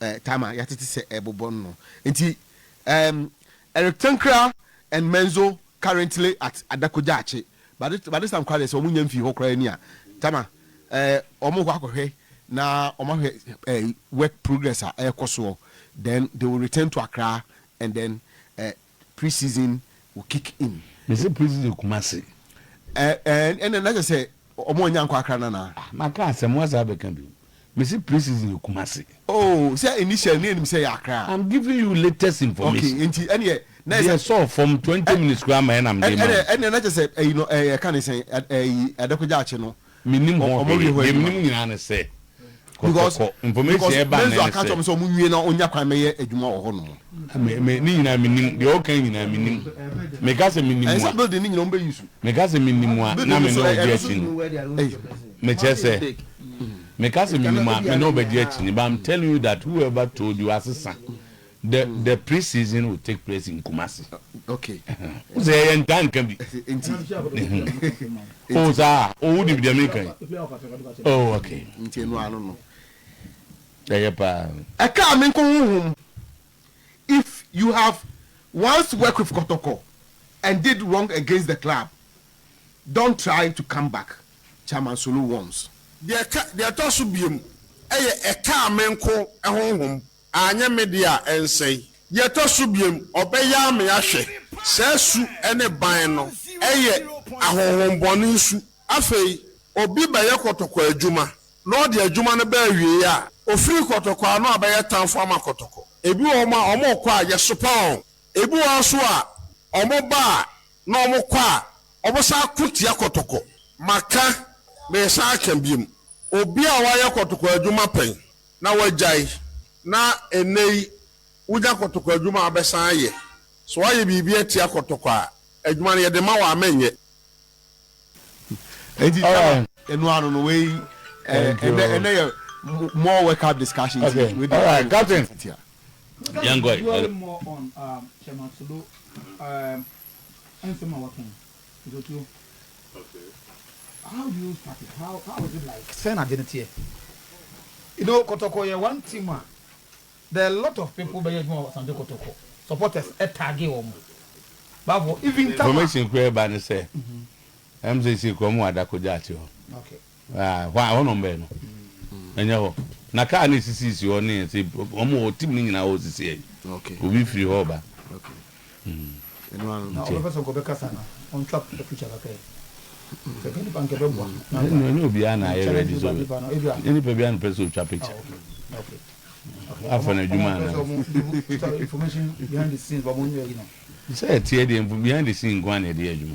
eh, time a yɛatete sɛ ɛrebobɔ no no. Enti um, Eric Tankra and Menzo currently at Adakogyaakye. By this, by this time koraa deɛ sɛ wɔn nya mfii hɔ koraa ni a, Tama, eh, wɔn kɔ akɔhwɛ na wɔn ahwɛ eh, work progress a ɛrekɔ soɔ. Then they will return to Accra and then eh, Pre season will kick in. Mese pre season Kumasi. Ɛɛ ɛna na kyɛ sɛ ɔmo anya nkɔ Accra nana. Ah maka asɛm woasan abɛka bio. Mese pre season Kumasi. Oh sɛ initial ne ɛnim sɛ ɛyɛ Accra. I'm giving you latest information. Okay nti ɛneɛ na ɛsɛ. Deɛ ɛsɔɔ fam twenty minutes koraa ma ɛna mede ma wo. Ɛneɛ na kyɛ sɛ ɛyi no ɛɛ yɛka ne sɛn ɛyi Adakwa Gyaakye no. Mennim ho hwee. Deɛ menim nyinaa ne sɛ, kɔ, kɔ, kɔ. Information a ɛbaa nnɛ ne sɛ. Because Menzo aka akyerɛ me sɛ wɔn nwie na ɔnya kwan mmɛyɛ adwuma wɔ hɔnom. Me, me, ne nyinaa mennim. Deɛ ɔreka nyinaa mennim. Meka sɛ mennim a. Ɛnsɛ building no nyinaa wɔn bɛ use o. Meka sɛ mennim a, na me ne wo di akyi ni. Mekyerɛ sɛ, meka sɛ mennim a, me ne wo bɛdi akyi ni. But I'm telling you that whoever told you asesa. The the pre-season will take place in Kumasi. Okay. Wo sɛ yɛyɛ ntaa nka bi. Nti. O saa o wodi deɛ mi kan. O okay. Nti enu ano no. Ɛyɛ paa. Ɛka mi nko honhom. If you have once work with Kɔtɔkɔ and did wrong against the club, don't try to come back, Chairman Solo warns. Deɛ ɛtɔ so biom yɛ ɛkaa me nko honhom. Anyɛ me deɛ a, ɛnsɛe. Deɛ ɛtɔ so biom, ɔbɛyaa me ahwɛ. Saa su ne ban no yɛ ahonhommɔne nsu. Afei, obi bɛyɛ kɔtɔkɔ adwuma, na ɔde adwuma no ba awieeɛ a, ɔfiri kɔtɔkɔ ano a, bɛyɛ tamfo ama kɔtɔkɔ. Ebi wɔ hɔ a, wɔkɔ a, yɛsopa wɔn. Ebi wɔ hɔ nso a, wɔba a, na wɔkɔ a, wɔsan ko tia kɔtɔkɔ. Maka, meresan aka biom. Obi a wayɛ kɔtɔkɔ adwuma pɛn na wagyae na nnɛyi wonya kɔtɔkɔ adwuma a wabɛsan ayɛ. Sɛ woayɛ biribi atia kɔtɔkɔ a, adwuma no yɛde ma wo a mɛnyɛ. Enti Tama ɛno ano no wei ɛnɛ ɛnɛ yɛ more work up discussion nti wei deɛ ɛyɛ discussion titia. Yɛnkɔ. Sɛn na adwene teɛ? You know, kɔtɔkɔ yɛ one team a, there are a lot of people bɛyɛ adwuma wɔ Asante Kotoko, supporters tagge wɔn, bafo, even Tama. Information koraa a ɛba ne sɛ, ɛm sɛ seesei kura mu wɔ Adako Gyaate hɔ. Okay. Aah hɔ a hɔ na wɔn bɛyɛ no ɛnyɛ hɔ na car no esisi si hɔ ne ɛsɛ wɔn wɔ hɔ team no nyinaa hɔ sisi yɛ obi firi hɔ ba ɛnyɛ obiara na ayɛ ready sɛ nyɛ nipa biara na ɔpɛ sɛ ɔtwa picture afa no adwuma anaa sɛ ɛteɛ deɛ behind the scene nko ara na yɛde yɛ adwuma.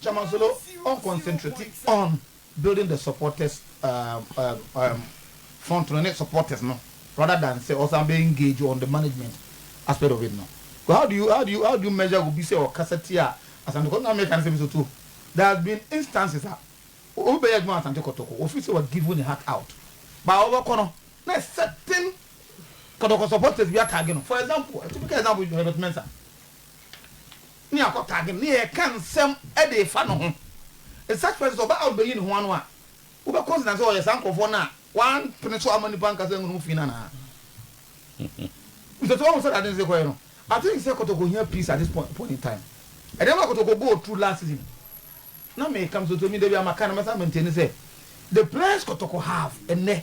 Chairman Solo on concentrate on building the supporters um, um, um, front no ne supporters no rather than sɛ ɔsan bɛ engage on the management aspect of it no. Because how do you how do you how do you measure obi sɛ ɔkasa tia Asante Kɔtɔkɔ? Na mɛka ne sɛ mi so to there has been instances a obi bɛyɛ adwuma Asante Kɔtɔkɔ ofi sɛ wa give ne heart out but a ɔbɛkɔ no na certain Kɔtɔkɔ supporters bi atagi no for example a typical example Herbert Mensah. ne akotade mu, na yɛreka nsɛm de refa no ho. In such persons, ɔbaa a ɔrebeyi ne ho ano a, wobɛ consider sɛ ɔyɛ saa nkurɔfoɔ no a wɔampene so amma nnipa ankasa anhunu ho fi no anaa? Because wahu sɛdeɛ ade no sɛ kɔyɛ no, I think sɛ kɔtɔkɔ hia peace at this point point in time. Nneɛma a kɔtɔkɔ go through last season no, na meka, mesoso mi, da biara maka, na mɛsan maintain sɛ, the plans kɔtɔkɔ have nnɛ,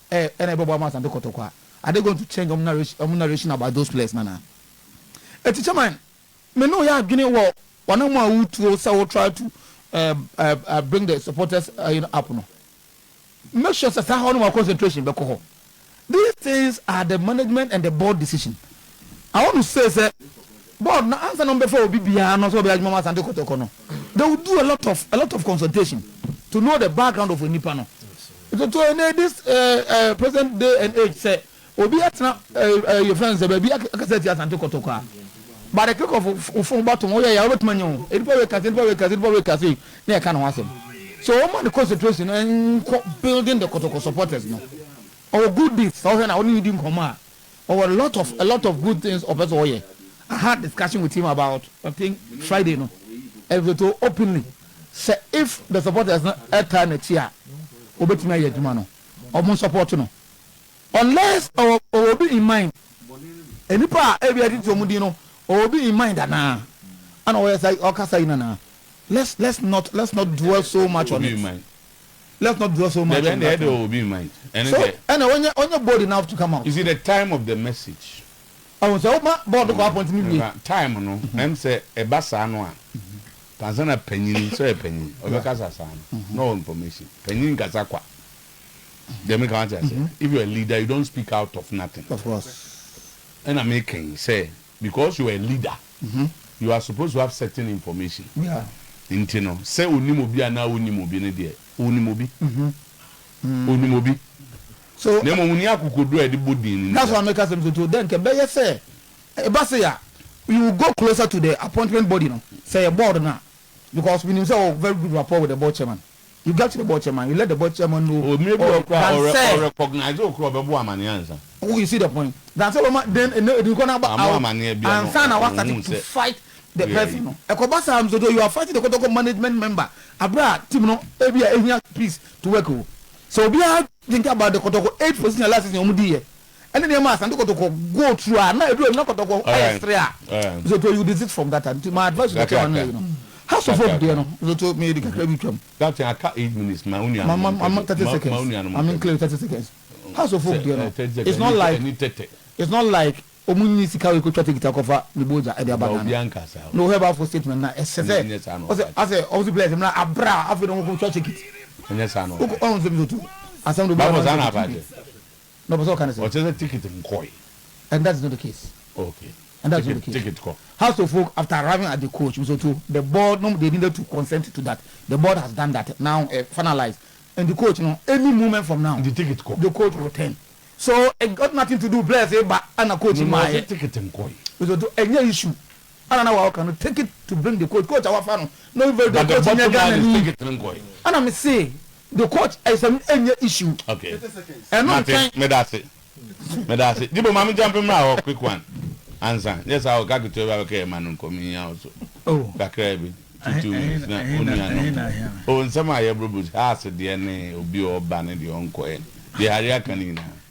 ɛ ɛna ɛbɛboa mo Asante Kotoko a, are they going to change ɔmo narration ɔmo narration about those players no anaa? Eti Chairman, me ne wo yɛ adwene wɔ w'anamɔ a wo tuo sɛ wo try to ɛɛ ɛɛ bring the supporters ɛyi no up no. Make sure sɛ saa hɔ no wɔ concentration bɛkɔ hɔ. These things are the management and the board decision. Awo no say sɛ board no ansa na wɔbɛfa obi biara no sɛ ɔbɛyɛ adwuma wɔ Asante Kɔtɔkɔ no, they will do a lot of a lot of consultation to know the background of onipa no. Ntoto yi ne this eh, eh, present day and age sɛ obi atena eh, eh, yɛfrɛ no sɛ baabi ak- akasa atia Asante Kɔtɔkɔ a by the click of wo f- wo phone button woyɛ yɛ a wobɛtumi anya ho nipa wei kase nipa wei kase nipa wei kase na yɛka ne ho asɛm so wɔma ne concentration no nkɔ building the Kɔtɔkɔ supporters no ɔwɔ good deeds sɛ wohwɛ no a wone ne di nkɔmmɔ a ɔwɔ a lot of a lot of good things ɔpɛ sɛ ɔyɛ I had discussion with him about I think Friday no and he told openly sɛ if the supporters no ɛtaa n'akyi a ɔbɛtumi ayɛ adwuma no ɔmo nsupporto no unless ɔwɔ ɔwɔ obi in mind nnipa a ebi ɛtete ɔmo din no ɔwɔ obi in mind anaa ɛna ɔyɛ sa ɔkasa yi nanaa let's let's not let's not dwell so much on it. let's not dwell so much on that one so ɛna wɔnyɛ wɔnyɛ bold enough to come out. you see the time of the message. ɔhun sɛ ɔma bɔɔl no kɔ apɔnti mi wie. time no ɛm sɛ ɛba saa no a pansa na panyin sɛ ɔyɛ panyin ɔbɛkasa saa no na ɔwɔ information panyin nkasa kwa deɛ mi ka wɔn ti ase if you are a leader you don't speak out of nothing. of course. ɛna mi kɛn sɛ because you're a leader you are supposed to have certain information nti no sɛ onim obi anaa wonnim obi no deɛ onim obi onim obi na mmom ni akokoduro a yɛde bɔ din no nti that's why meka sɛ mesɛ to dɛ nkɛ bɛyɛ sɛ ɛba se a you will go closer to the appointment body no sɛ yɛ board no a because menim sɛ ɔwɔ very good rapport with the board chairman You get the board chairman, you let the board chairman know or than sɛ. Mmerɛ bi wɔ hɔ koraa ɔ recognize wo koraa ɔbɛbɔ amaneɛ ansa. You see the point? Than sɛ ɔbɛma den ɛnɛ ɛdi nkɔ na aba out ansa na wa start to fight the person no. Ɛkɔba saa nso deɛ you are fighting the kɔtɔkɔ management member aberɛ a team no ɛbi a ɛhia peace to work o. Sɛ obiara thinking about the kɔtɔkɔ eight position last season wɔn diiɛ ɛne nneɛma a asante kɔtɔkɔ go through a na edu na kɔtɔkɔ ayɛ sere a nsoto you desist from that nti my advice to the chairman no no house of folk deɛ no nsoto meyɛ di kakra bi twam mama thirty seconds mame nkele thirty seconds house of folk deɛ no it's not like it's not like ɔmu nyi sika wɔ ekotwa tekita kɔfa ne bo ogya ɛde aba ghana na ɔhɛ ba afɔ statement na ɛsɛ sɛ ɔsɛ asɛ ɔsɛ blɛs mmerɛ abira afei na ɔkɔ kotwa tekiti ɔkɔ ɔn sɛ nsoto asɛm do bɛ ɔn sɛ Na ɔpɛ sɛ ɔka no sɛ. Ɔkyerɛ sɛ ticket nkɔe. And that is not the case. Okay. And that is not the case. Ticket kɔ. House of Folk after arriving at the coach nso to the board nom they needed to consent to that the board has done that now ɛ eh, finalize nti coach no any moment from now. Nti ticket kɔ. The coach will turn so it got nothing to do bless ba ɛna coach no maa yɛ. No na ɔse ticket nkɔe. Nso to ɛnyɛ issue. Ana na waka no take it to bring the coach coach a wafa no na ɔyɛ very good coach nyɛ Ghana ni ana me se the coach ɛsɛm ɛnyɛ issue ɛno ntɛn. Medase medase jibo maame jampe mra hɔ quick one ansa nyɛ saa ɔka ketewa bi abɛka yɛ ma no nkɔ mehia wo so oh. kakra bi two two minutes na onua no o oh, nsɛm a yɛboro bu house deɛ ne obi ɔba ne deɛ ɔnkɔ yɛ deɛ hari aka ne nyinaa.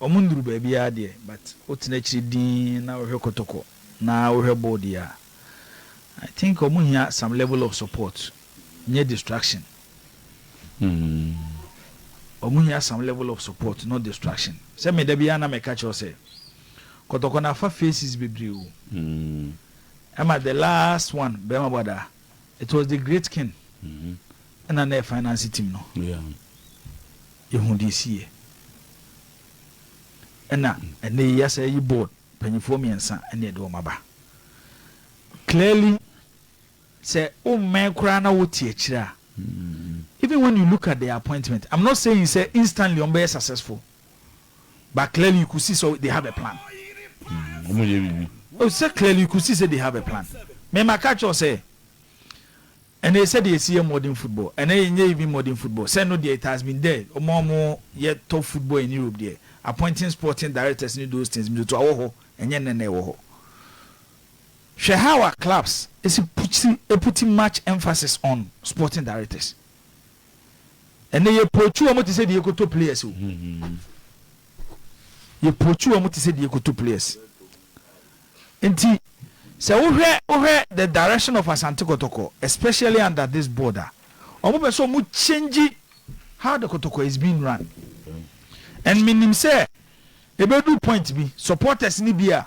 Ɔmo nnuru baabiaa deɛ but wotena akyiri dinn na wohwɛ kɔtɔkɔ na wohwɛ ball deɛ a I think ɔmo hia some level of support nyɛ distraction. Ɔmo hia some level of support not distraction. Sɛ me dabiaa na mɛka kyerɛ wo sɛ kɔtɔkɔ no afa faces bebree o ɛma the last one bɛɛma bɔ adaa. It was the great king ɛna na yɛ finance team no yɛhu deɛ ɛsiiɛ ɛna ɛnɛ yi yɛasa ayi board mpanyifoɔ mmiɛnsa ɛne ɛde wɔn aba clearly sɛ wommɛn koraa na wote akyire a even when you look at the appointment I'm not saying sɛ instantly wɔn bɛyɛ successful But clearly you could see so they have a plan. Wɔn yɛ biribi. Oh, sɛ clearly you could see say they have a plan. Me ma ka kyerɛ sɛ ɛnna yɛ sɛ deɛ yɛsi yɛ modern football ɛnna yɛ nyɛ even modern football sɛ no deɛ it has been there wɔn a wɔn yɛ top football in Europe deɛ appointing sporting directors ne those things mitoto awɔ hɔ ɛnyɛ nnɛ na ɛwɔ hɔ. Hwɛ how our clubs esi puti eputi much emphasis on sporting directors. Ɛnɛ yɛ pootwi wɔn te sɛ deɛ yɛkɔtɔ players o. Yɛ pootwi wɔn te sɛ deɛ yɛkɔtɔ players. Nti sɛ wohwɛ wohwɛ the direction of Asante Kɔtɔkɔ especially under this board a, wɔn pɛ sɛ wɔn change how the Kɔtɔkɔ is being run. And menim sɛ ɛbɛduru point bi supporters no bi a,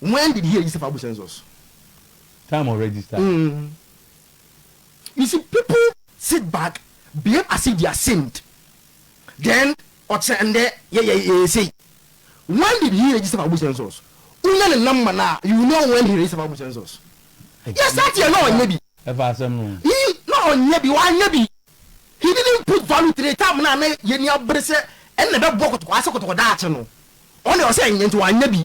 When did he register for Abu census? Time ɔ register yɛ. Mm you see people. Sit back behave as if they are saint then ɔkyerɛ ndɛ yɛ yɛ yɛ sei when did he register for Abu census wo nya ne number no a you will know when he register for Abu census yes that year na ɔnyɛ bi Ɛfa asɛm no ho. He na ɔnyɛ bi wanyɛ bi he didn't put value to the time no a na yɛ ni abere sɛ ɛna ɛbɛ bɔ kɔtɔkɔ ase kɔtɔkɔ daakye no ɔno deɛ ɔsɛ ɛnyɛ nti wanyɛ bi.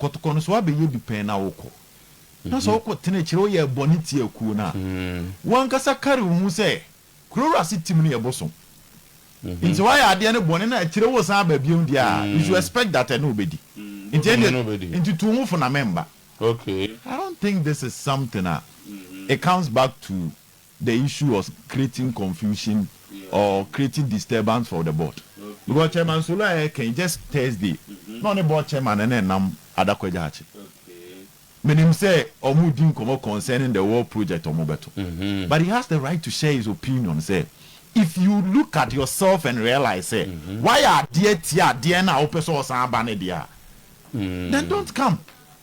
kɔtokɔ no so abɛyɛ bi pɛn na wokɔ. Na sɛ wokɔ tena akyire woyɛ bɔne tia kuo no a, wo ankasa kari wo ho sɛ kuro wura se tim no yɛ bosom. Nti sɛ woayɛ adeɛ no bɔne na akyire wo san aba bio deɛ a, you should expect that ɛne wo bɛdi. Nti ɛndeɛ, nti tu wo ho fo na memmba. I don't think this is something a it comes back to. the issue was creating confusion or creating disturbance for the board because chairman solo a yɛka yi just Thursday na ɔne board chairman no na ɛnam adakɔ gya akye menim sɛ ɔmo di nkɔmɔ concerning the war project ɔmo bɛto but he has the right to share his opinion sɛ if you look at yourself and realize sɛ wayɛ adeɛ tia adeɛ no a wopɛ sɛ ɔsan ba no deɛ a then don't come